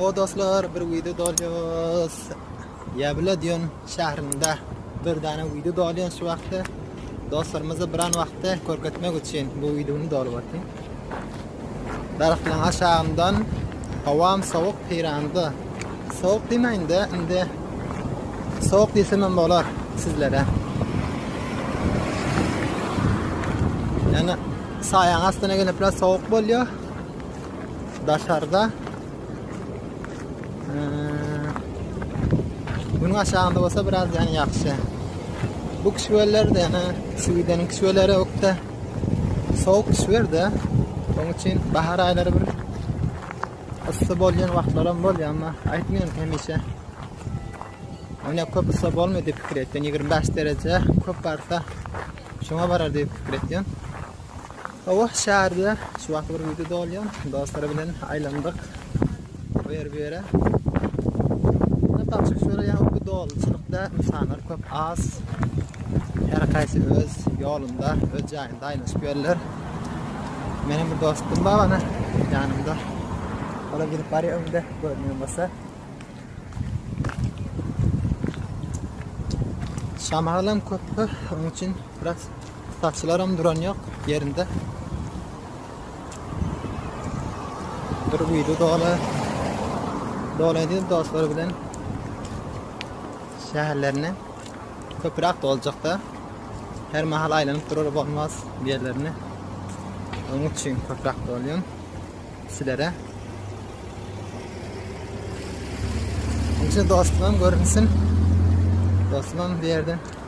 O dostlar bir video dolýas. Ýabla diýen şäherinde bir dana video dolýan şu wagtda. Dostlarymyzy bir an wagtda görkezmek üçin bu videony dolyp atdym. Daragtynyň aşagyndan howam sowuk peýranda. Sowuk diýmäýin-de, indi sowuk diýsemem bolar sizlere. Ýöne saýaň astyna gelip biraz sowuk bolýar. Daşarda Günüň aşagynda bolsa biraz ýagşy. Bu kişiweller-de ýöne Swideniň kişiweleri ökde. Sowuk düşberdi. Oň üçin bahar aýlary bir yssy bolýan wagtlar hem bolýar, emma aýtmaýan hemişe. Ony köp yssy bolmaýar diýip pikir etdim. 25 dereje köp barsa şoňa barar diýip pikir etdim. Hawa, şäherde şu wagt bir ýüzi dolýar. Dostlar bilen aýlandyk. Bu ýer bu ýere. Munda gaçyp sürýän bu doluçylykda insanlar köp az. Her kaýsy öz ýolunda, öz jaýynda aýlanyşyp ýörler. Meniň bir dostum bar ana ýanymda. Ola gidip barýar öňde görünýän bolsa. Şamalam köp, onuň üçin biraz saçylaram duran ýok ýerinde. Bir güýli doly. Dolydy dostlar bilen. Şäherlerine köpürak doljakda her mahal aýlanyp durar bolmaz ýerlerine. Onuň üçin köpürak dolýan sizlere. Üçin dostlarym görünsin. Dostlarym bir ýerden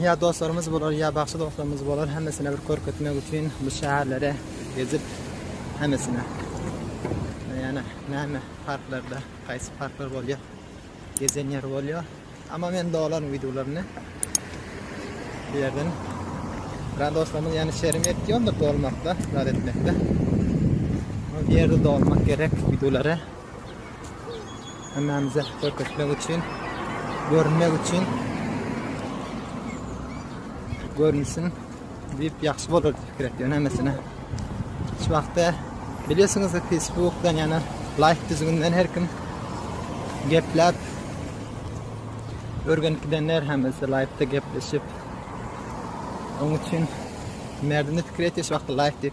Ýa dostlarymyz bolar, ýa bagşy dostlarymyz bolar, hemmesine bir görkezmek üçin bu şäherlere gezip, hemmesine. Ýöne näme parklarda, haýsy parklar bolýar, gezen ýer bolýar. Amma men dolaryň wideolaryny bu ýerden. Biraz dostlarymyz ýöne şerim ýetýändir dolmakda, zat etmekde. Bu ýerde dolmak gerek wideolara. Hemmämize görkezmek üçin, görünmek üçin görünsin diýip ýagşy bolar diýip gerek ýöne hemmesine. Şu wagtda biliyorsunuz Facebook'dan ýana like düzgünden her kim gepläp örgenip gidenler hemmesi like'da gepleşip Onun için merdini fikir et şu wagtda like diýip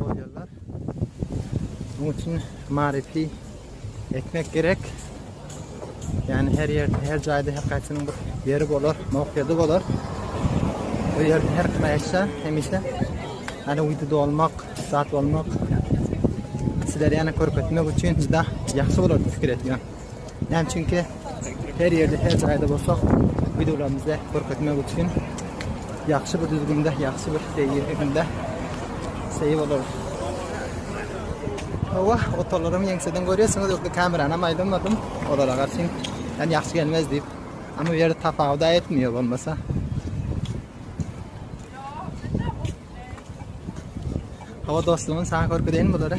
bolýarlar. Bunun üçin maryfy etmek gerek. Yani her yer, her jaýda her kaýsynyň bir ýeri bolar, mowkedy bolar. Bu ýerde her kime eşä, hemişe yani wideoda olmak, zat bolmak sizlere ýene görkezmek üçin juda ýagşy bolardy pikir etýän. Näme üçin ki, her ýerde, her jaýda bolsak, wideolarymyzda görkezmek üçin ýagşy bir düzgünde, ýagşy bir seýilginde seýil bolarys. Hawa, otalarymy ýeňseden görýärsiňiz, ýokda kamerany hem aýlanmadym. Olara garşy, ýani ýagşy gelmez diýip. Amma bu ýerde tapawut etmiyor bolmasa. Hawa dostumyň sana görkezeýin bulary.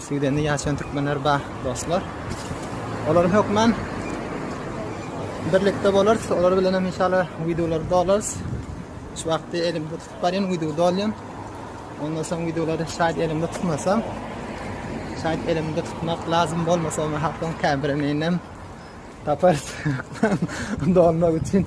Swedende ýaşaýan türkmenler bar dostlar. Olar hökman birlikde bolarys. Olar bilen hem inşallah videolar dolarys. Şu wagtda elim tutup barýan video dolýan. Ondan soň videolary şaýat elimde tutmasam, şaýat elimde tutmak lazym bolmasa, ony hatdan käbirini inem taparys. Dolmak üçin.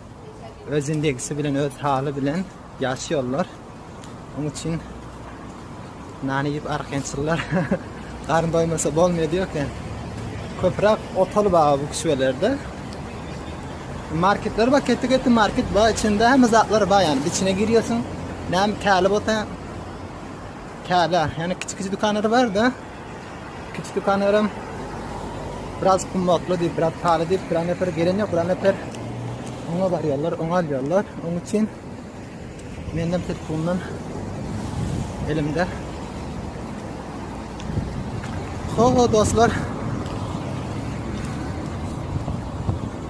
Öz indegisi bilen, öz haly bilen ýaşýarlar. Onuň üçin nany ýyp argençyllar garyn doýmasa bolmaýar diýerken. Köpräk otaly bar bu küçelerde. Marketler bar, ketdi ketdi market bar, içinde hem zatlar bar ýani. Içine girýärsiň, näme täli bolsa täli. Ýani kiçi kiçi dükanlar bar-da. Kiçi dükanlarym biraz kummakly diýip, biraz pahaly diýip, bir nefer gelen ýok, bir nefer oňa barýarlar, oňa alýarlar. Oň üçin menden telefondan elimde. Ho ho dostlar.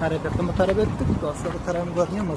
Hareketimi tarap ettik. Dostlar tarafım görünüyor mu?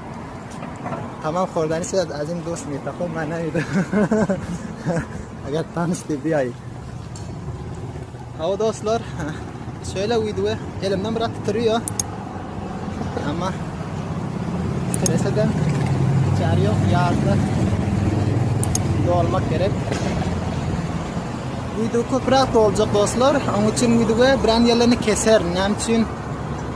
Tamam hordan işe azim dost mi tapo mana ýa. Agat tanış diýip ýaý. Hawa dostlar, şöyle wideo elimden biraz titriyor. Ama titrese de çar yok yarda dolmak gerek. Video köprak olacak dostlar. Onun için videoya bir an yerlerini keserim. Onun için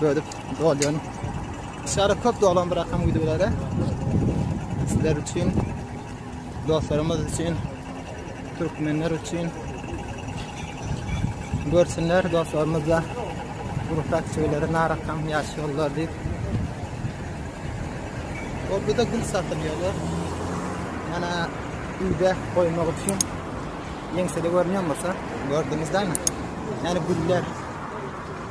bölüp dolýan. Şara köp dolan bir akam wideolary. Sizler üçin, dostlarymyz üçin, türkmenler üçin görsünler dostlarymyz da gurutak şeyleri narakam yaşıyorlar diýip. Orada da gül satılýarlar. Ýana öýde goýmak üçin ýeňsede görünýän bolsa, gördüňizmi? Yani güller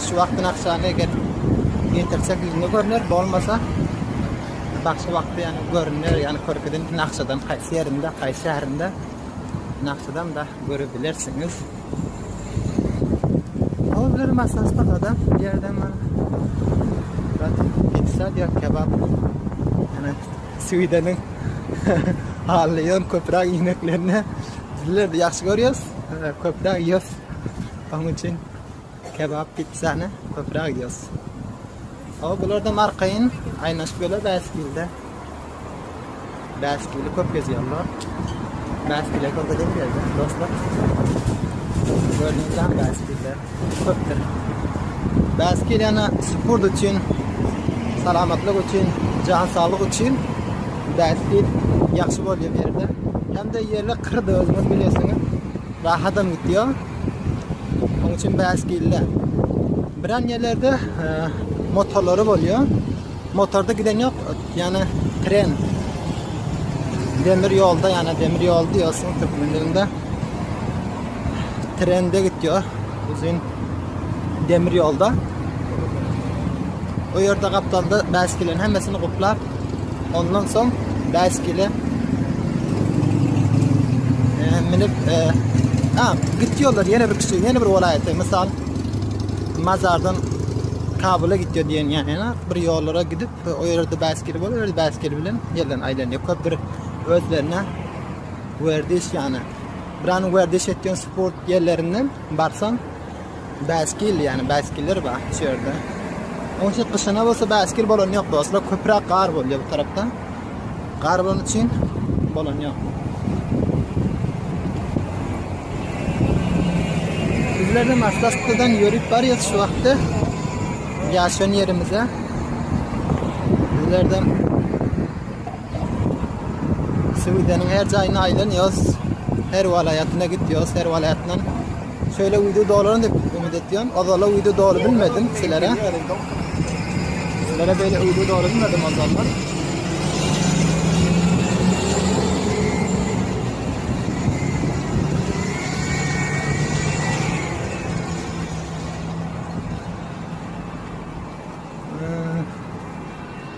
Şu wagtdan akşam eger getirse güýzüne görner, bolmasa başga wagtda ýany görner, ýany körpeden nakşadan haýsy ýerinde, haýsy şäherinde nakşadan da görebilersiňiz. Hozir masasda adam ýerden mana. Bak, pizza diýär, kebap. Ýani Swideniň Allion köprak ineklerini bizler de ýagşy görýäs, köprak ýyýas. Onuň üçin Kebap pizzany köpräk iýýäs. Hawa bulardam arkaýyn aýnaşyp ýörler bäsgilde. Bäsgili köp gezýärler. Bäsgile görkezip ýörler dostlar. Gördüňizem bäsgiller köpdür. Bäsgil ýana sport üçin, salamatlyk üçin, jan saglyk üçin bäsgil ýagşy bolýar bu ýerde. Hem-de ýerler kyrdy özüňiz bilýärsiňiz. Rahat hem gitýär. Oň üçin bäs gille. Biran ýerlerde motorlary bolýar. Motorda giden ýok, ýani tren. Demir ýolda, ýani demir ýol diýýärsiň türkmen dilinde. Trende gitýär. Uzyn demir ýolda. O ýerde gapdalda bäs gillen hemmesini guplap Ondan soň bäskile minip ha gitdi ýollar ýene bir kişi ýene bir welaýata mysal Mazardan Kabula gitdi diýen ýany bir ýollara gidip o ýerde bäskili bolup öýerde bäskili bilen ýerden aýdan ýok köp bir özlerine werdiş ýany Buranın werdiş etýän sport ýerlerinden barsan Bäskil ýani bäskiller bar şu ýerde. Onça gyşyna bolsa bäskil bolan ýok dostlar. Köpräk gar bolýar bu tarapda. Gar bolan üçin bolan ýok. Bizler de Maslasktadan ýörüp barýas şu wagtda. Ýaşan ýerimize. Bizlerden Suwideniň her jaýyna aýlanýas. Her welaýatyna gitýas, her welaýatdan Şöyle video dolarım dep ümit etýän. Azala video doly bilmedim sizlere. Sizlere böyle video doly bilmedim azallar.